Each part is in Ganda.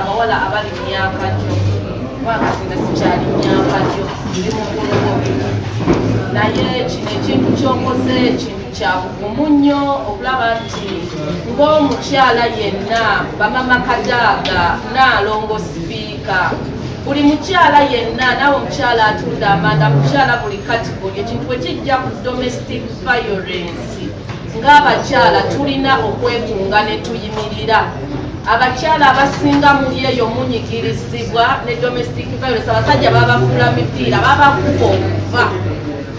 abawala abali myaka gyo kubanga sikyali myaka gyo ndi mukulu bobi naye kino ekintu kyokoze ekintu kyabugumu nnyo okulaba nti ng'omukyala yenna bamama kadaaga naalongo sipiika buli mukyala yenna naawe omukyala atunda amanda mukyala buli katigoli ekintu bwe kijja ku domestic violence ng'abakyala tulina okwekunga ne tuyimirira abakyala abasinga muli eyo munyigirizibwa ne domestic violence abasajja babafuula mipiira babakuba okuva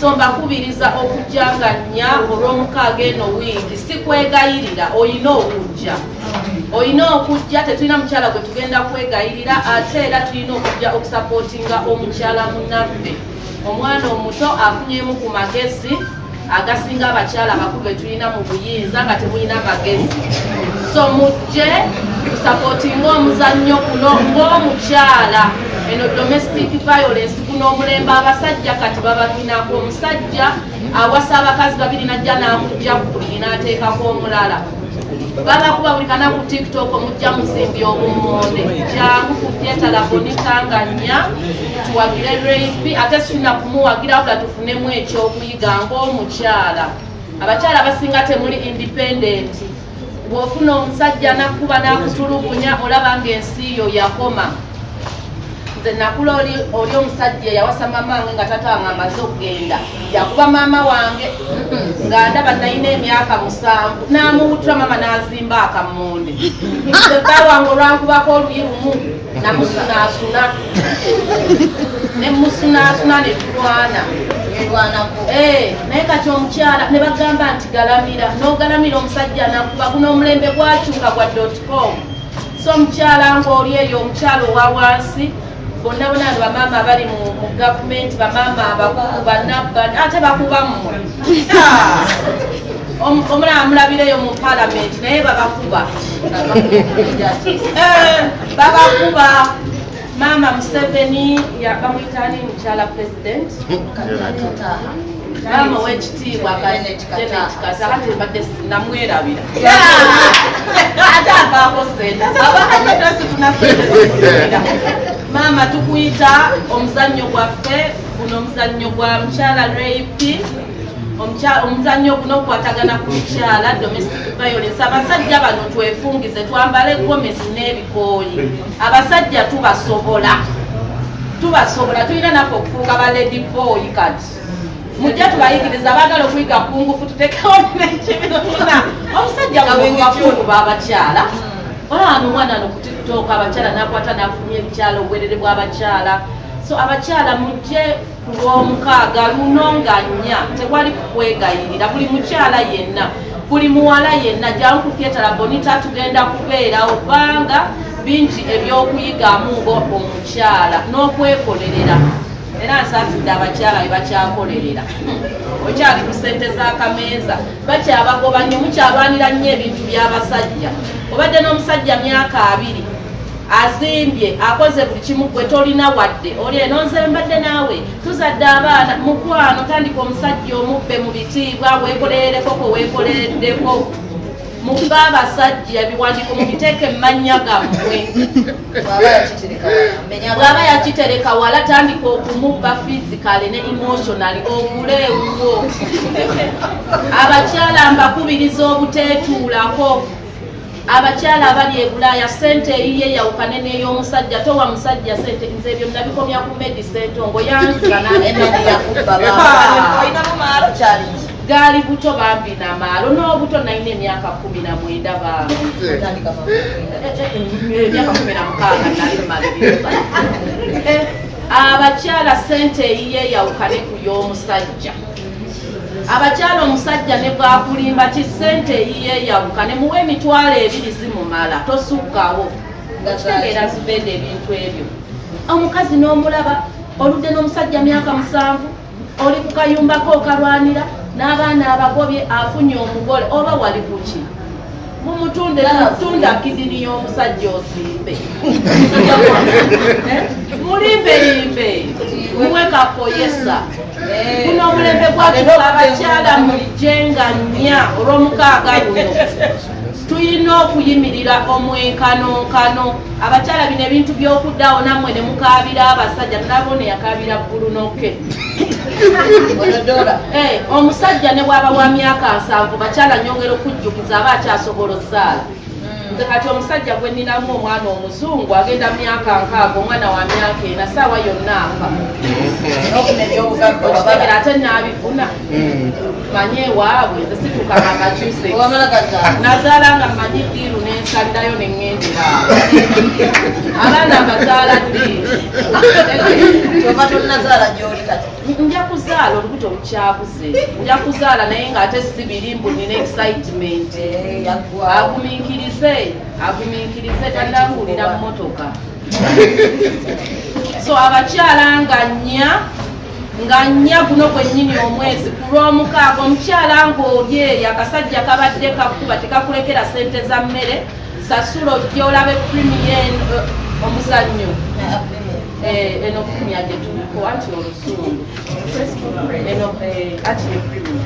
so mbakubiriza okujanganya olw'omukaaga eno wiigi sikwegayirira olina okujja olina okujja tetulina mukyala gwe tugenda kwegayirira ate era tulina okujja okusapootinga omukyala munaffe omwana omuto afunyemu ku magezi agasinga abakyala abakulu betulina mu buyinza nga temulina magezi so mujje tusapotinga omuzannyo kuno ng'omukyala eno domestic violence kuno omulembe abasajja kati babaminako omusajja awasa abakazi babiri najja namujja kubuli nateekako omulala babakuba buli kana ku tiktok omujja muzimbi obumonde jangu kutyetalabonikanganya tuwagire rp ate sina kumuwagira nemu ekyokuyiga ngaomukyala abakyala basinga temuli indipendenti bwofuna omusajja nakuba nakutulugunya olaba nga ensi yo yakoma nze nakula oli omusajja yawasa maama wange nga tata wange amaze okugenda yakuba maama wange nga ndaba nalina emyaka musanvu namuwutula maama nazimba akamonde ebbawange olwankubako oluyi lumu namusunaasuna ne musunaasuna ne tulwana eh, naye kati omukyala ne bagamba nti galamira n'ogalamira omusajja nakuba guno omulembe gwakyuka gwa dotcom so omukyala ng'oli eyo omukyala owa wansi bonna bona bamaama abali mu gavumenti bamaama abakulu banabban ate bakuba mmwe omulaba mulabireyo mu palamenti naye babakuba eh, babakuba maama museveni bamuyitani mukyala president maama owekitiibwa kati mbadde namwerabira ate avaako sente abakasente sifuna sente maama tukuyita omuzannyo gwaffe Guno omuzannyo gwa mukyala rape omuzannyo guno okukwatagana ku mukyala domestic violence abasajja bano twefungize twambale gomesi n'ebikooyi abasajja tubasobola tubasobola tulina naffe okufuuka ba lady boy kati mujja tubayigiriza baagala okuyiga kungufu tutekewo nekibina omusajja bwewakulu babakyala olaba nomwana nokutiktoka abakyala nakwata nafumya ebikyala obwerere bwabakyala so abakyala mujje ku lwomukaaga luno nga nnya tewali kukwegayirira buli mukyala yenna buli muwala yenna jangu kufyetala bonita tugenda kubeerawo kubanga bingi ebyokuyigamu nga omukyala n'okwekolerera era nsaasidde abakyala be bakyakolerera okyali ku sente z'akameeza bakyabagoba nnyo mukyalwanira nnyo ebintu by'abasajja obadde n'omusajja myaka abiri azimbye akoze buli kimu gwe tolina wadde oli eno nze mbadde naawe tuzadde abaana mukwano tandika omusajja omubbe mu bitiibwa weekoleereko kwe weekolereddeko mukuba abasajja ebiwandiiko mubiteeke mumannya gammwe bwaba yakitereka wala tandika okumubba fizikale ne emotionali ogule ewuwo abakyala mbakubiriza obuteetuulako abakyala abali e bulaaya sente eyiye yawukane n'ey'omusajja towa musajja sente nze ebyo nabikomya ku medi sente ongo yanziganaali buto bambi na maalo n'obuto nalina emyaka kumi na mwenda bambi abakyala sente eyiye yawukane ku y'omusajja abakyala omusajja ne bwakulimba ki ssente eyiyeeyawuka ne muwa emitwalo ebiri zimumala tosukkawo nga kitegeera zubenda ebintu ebyo omukazi n'omulaba oludde n'omusajja myaka musanvu oli ku kayumbako okalwanira n'abaana abagobye afunye omugole oba wali kuki mumutunde tunda kidini y'omusajja osimbe eh? mulimbelimbe muwe kakoyesa eh. guno omulembe gwatuka abakyala mulijenga nnya olwomukaaga luno tulina okuyimirira omwenkanonkano abakyala bino ebintu byokuddawo nammwe ne mukaabira abasajja nalabone yakaabira ggulu noke eh, omusajja ne bwaba wa myaka nsanvu bakyala nyongera okujjuka nze aba akyasobola osaala hmm. nze kati omusajja gwe ninamu omwana omuzungu agenda myaka nkaaga omwana wa myaka ena saawa yonna afa okitegera ate naabifuna hmm. manyi ewaabwe nze situkanga kakyuse nazaala nga manyi diiru nensalirayo neŋŋendera abaana mbazaala ddi kyova tonazaala gyoli kati nja kuzaala olubuto lukyabuze nja kuzaala naye ng'ate si biri mbu nina excitement eh, agumiikirize agumiikirize tanakuwulira mmotoka so abakyala nga nnya nga nnya guno gwennyini omwezi ku lw'omukaaga omukyala ng'oli eyo akasajja kabadde kakuba tekakulekera sente za mmere sasula ojja olabe primiyen eh, omuzannyo Eh, eno film yadde tuliko anti olusungu eno eh, anti ne film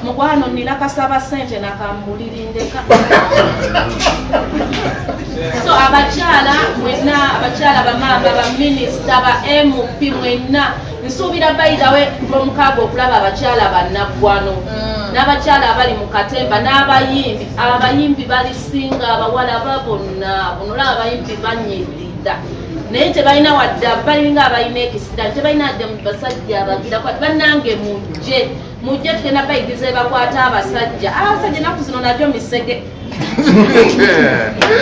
mukwano nina kasaba sente nakambulirindeka so abakyala mwena abakyala bamaama baminisita ba mp mwena nsuubira bayidawe lwomukaaga okulaba abakyala bannaggwano mm. n'abakyala abali mu katemba n'abayimbi abayimbi balisinga abawala babonna bunula abayimbi banyirira naye tebalina wadde balinga abalina ekisirani tebalina dde mu basajja abagira kwati bannange mujje mujje tugenda bayigiza ebakwata abasajja abasajja enaku zino najo misege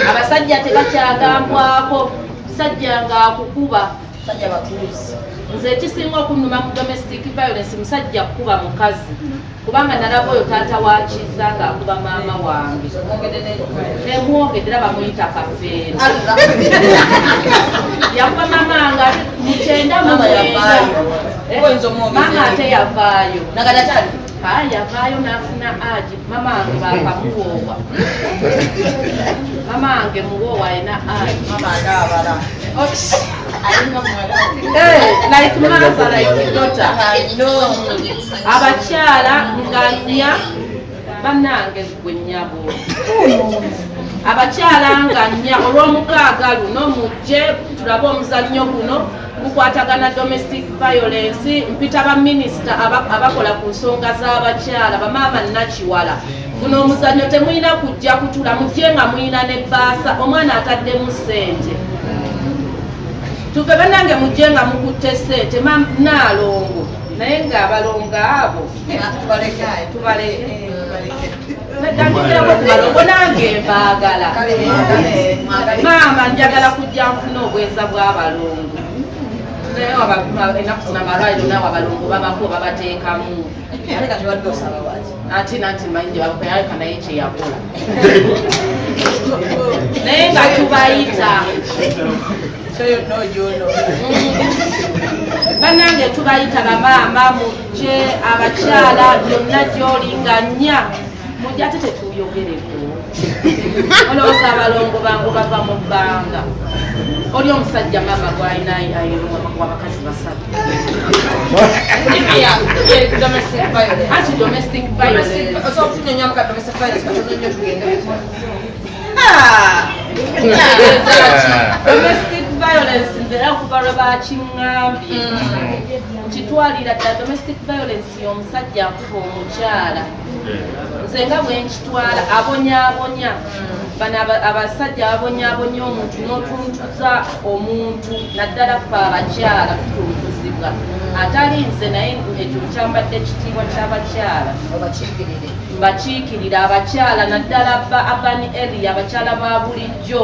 abasajja tebakyagambwako sajja ngaakukuba Musajja batuuzi nze ekisinga okunuma mu domestic violence musajja kukuba mukazi kubanga nalaba oyo taata wakiza nga akuba maama wange nemwongedde era bamuyita kafeero yakuba maama nga mukyenda mumwenda maama ate yavaayo yavaayo nafuna aji Mama wange bakamuwoowa. Mama wange muwoowa alina ayi. Mama wange abala. Like mother, like daughter. Abakyala nganya banange gwe nyabo. Abakyala nganya olw'omukaaga luno mujje tulabe omuzannyo guno. gukwatagana domestic violence mpita baminisita abakola ku nsonga z'abakyala bamaama nakiwala guno omuzannyo temulina kujja kutula mujje nga mulina ne baasa omwana ataddemu sente tuve banange mujje nga mukutte sente manaalongo naye ng'abalongo abo tubaleke maama njagala kujja nfuna obwenza bw'abalongo naye wabapima enaku zina malwaliro nawe abalongo babako babateekamu ati nanti manyi gyebakuyaleka naye kyeyagula naye nga tubayita banange tubayita bamaama gye abakyala byonna gyoli nga nnya mujate tetuyogereko olowooza abalongo bangu bava mu bbanga oli omusajja maama gwalina ayewabakazi basatu violence nze era kuva lwe bakiŋŋambye mm. nkitwalira dda domestic violence y'omusajja akuba omukyala nze nga bwe nkitwala abonyabonya bano abasajja ababonyabonya omuntu n'otuntuza omuntu naddala fe abakyala tutuntuzibwa atali nze naye ekyo kyambadde ekitiibwa ky'abakyala mbakiikirira abakyala naddala ba abani eri abakyala ba bulijjo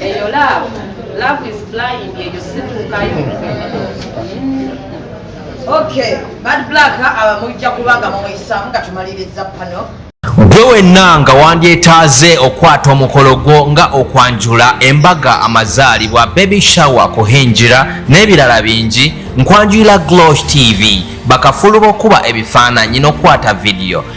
eyo love love is blind eyo situukayo okay bad black abamujja kubanga mumuyisaamu nga tumaliriza pano gwe wenna nga wandyetaaze okukwata omukolo gwo nga okwanjula embaga amazaalibwa baby shower kuhingira n'ebirala bingi nkwanjulira glosh tv bakafulu b'okuba ebifaananyi n'okukwata vidiyo